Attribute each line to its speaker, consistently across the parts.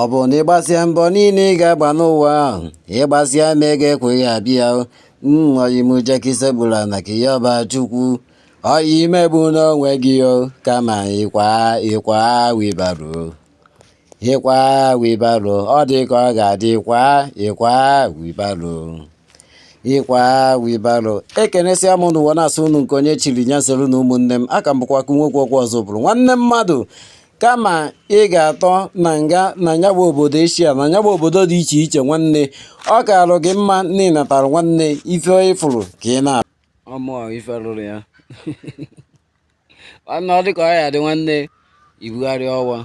Speaker 1: Ọ bụrụ na ịgbasịa mbọ niile ị ga-agba n'ụwa ahụ, ịgbasịa ma ego ekweghị abịa ọyị m jee ka i sekpulu ana ka ị yọba chukwu ọyị emegbuna onwe gị o kama ịkwa ịkwa wibaro ịkwa wibaro ọ dị ka ọ ga-adị kwa ịkwa wibaro ịkwa wibaro ekenesịa m n'ụwa na-asụ unu nke onye chiri nya zere na ụmụnne m aka m bụkwa nwoke okwu ọzọ bụrụ nwanne mmadụ kama ị ga-atọ na nga na ya bụ obodo eshia na ya bụ obodo dị iche iche nwanne ọ kaarụ gị mma na ịnatara nwanne ife ịfụrụ ka ị na ọmụ ife rụrụ ya nwanne ọ dị ka ọ ya-adị nwanne ibugharị ọwa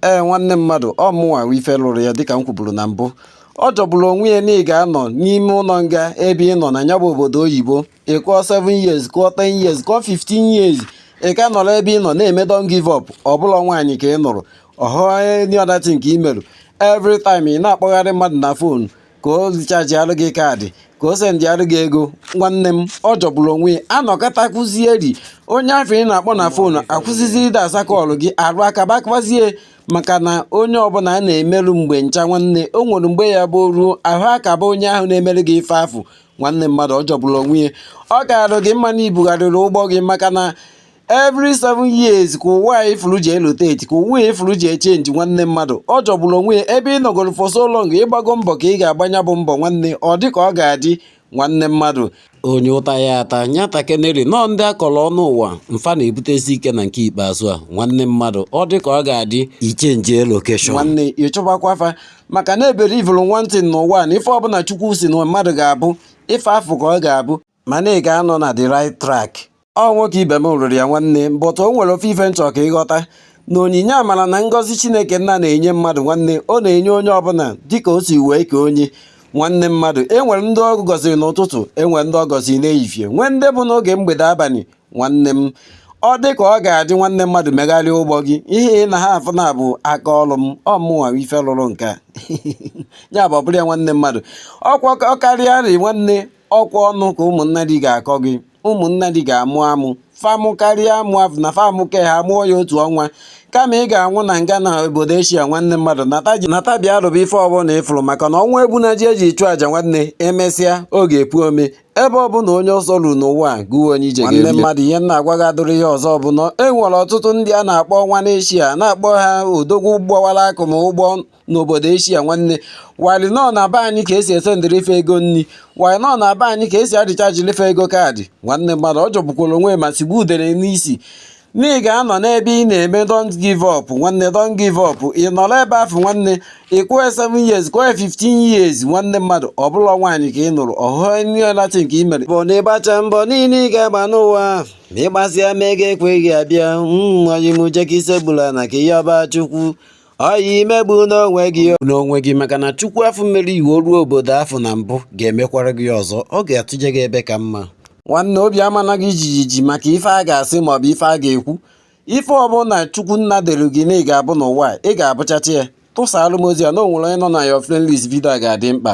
Speaker 1: ee nwanne mmadụ ọ mụnwa ife lụrụ ya dịka m kwuburu na mbụ ọ jọgburu onwe ya na ị ga-anọ n'ime ụlọ nga ebe ị nọ na ya bụ obodo oyibo ị kụọ 7 years kụọ 10 years kụọ 15 years ị ka nọrọ ebe ị nọ na-eme don't give up ọ bụ na nwaanyị ka ị nụrụ ọ bụ any other thing ka ị merụ every time ị na-akpọgharị mmadụ na fon ka o richajiarụ gị kaadị ka o sendịarụ gị ego nwanne m ọ jọgburu onwe ya a nọkata kụzie ri onye afụ ị na-akpọ na fon akwụsịzie ịdị aza kọlụ gị arụ akabakwazie maka na onye ọbụla a na-emerụ mgbe ncha nwanne o nwere mgbe ya bụ ruo ahụ akaba onye ahụ na-emere gị ife afụ nwanne mmadụ ọ jọgburu onwe ya ọ kaara gị mma na ibugharịrị ụgbọ gị maka na every seven years ka ụwa a ị fụrụ ji eloteti ka ụwa ị fụrụ ji echenji nwanne mmadụ ọ jọgburu onwe ya ebe ị nọgoro for so long ịgbago mbọ ka ị ga-agba nya bụ mbọ nwanne ọ dị ka ọ ga-adị nwanne mmadụ onye ụta ya ata nyata keneri nọọ ndị akọrọ ọnụ ụwa mfa na-ebutezi ike na nke ikpeazụ a nwanne mmadụ ọ dị ka ọ ga-adị ichenji lokeshọn nwanne ịchọbakwa afa maka na ebelievụrụ one thing n'ụwa na ife ọbụla chukwu si na mmadụ ga-abụ ife afụ ka ọ ga-abụ mana ị ga-anọ na the right track ọ nwoke ibe m rụrụ ya nwanne but o nwere ofu ife m chọ ka ịghọta na onyinye amara na ngọzi chineke nna na-enye mmadụ nwanne ọ na-enye onye ọbụla dịka o si wee kee onye nwanne mmadụ enwere ndị ọ gọziri n'ụtụtụ enwere ndị ọ gọziri n'ehihie nwee ndị bụ n'oge mgbede abalị nwanne m ọ dị ka ọ ga-adị nwanne mmadụ megharịa ụgbọ gị ihe ị na ha afụ na bụ aka ọrụ m ọ mụnwa ife lụrụ nke a ya bụ ọbụrụ ya nwanne mmadụ ọkwa ọ karịa rị nwanne ọkwa ọnụ ka ụmụnna gị ga-akọ gị ụmụnna gị ga-amụ amụ fa mụkarịa amụ afụ na fa mụ ke ha mụọ ya otu ọnwa kama ị ga-anwụ na nga na obodo eshia nwanne mmadụ nata bịa rụba ife ọbụla ịfụrụ maka na ọnwụ egbuna ji e ji chụọ aja nwanne emesịa ọ ga-epu ome ebe ọ bụla onye ọsọ ruru n'ụwa a gụwa onye ije nwanne mmadụ ihe m na-agwa gị adịrọ ihe ọzọ bụ na e nwere ọtụtụ ndị a na-akpọ ọnwa n'eshia na-akpọ ha odogwu gbawara akụ ma ụgbọ n'obodo eshia nwanne while e nọ na be anyị ka e si esendịrị fa ego nri while e nọ na be anyị ka e si arichajili fa ego kaadị nwanne mmadụ ọ jọgbukwara onwe ma sigbu udere n'isi na ị ga-anọ n'ebe ị na-eme don't give up nwanne don't give up ị nọrọ ebe afụ nwanne ị kwụọ 7 years kwụọ 15 years nwanne mmadụ ọ bụla nwaanyị ka ị nụrụ ọhụụ ihe latin ka ị mere bụ na ịgbacha mbọ niile ị ga-agba n'ụwa a ma ịgbasịa ma ego ekweghị abịa mm, oyi m jee ka i sekpulu ana ka ị yọba chukwu oyi emegbuna onwe gị n'onwe gị maka na chukwu afụ mere i wee ruo obodo afụ na mbụ ga-emekwara gị ọzọ ọ ga-eduje gị ebe ka mma nwanne obi amana gị jijiji maka ife a ga-asị maọbụ ife a ga-ekwu ife ọbụla chukwu nna dere gị na ị ga-abụ n'ụwa a ị ga-abụchacha ya tụsaalụ m ozi a na o nwere onye nọ na your friend list vidio a ga-adị mkpa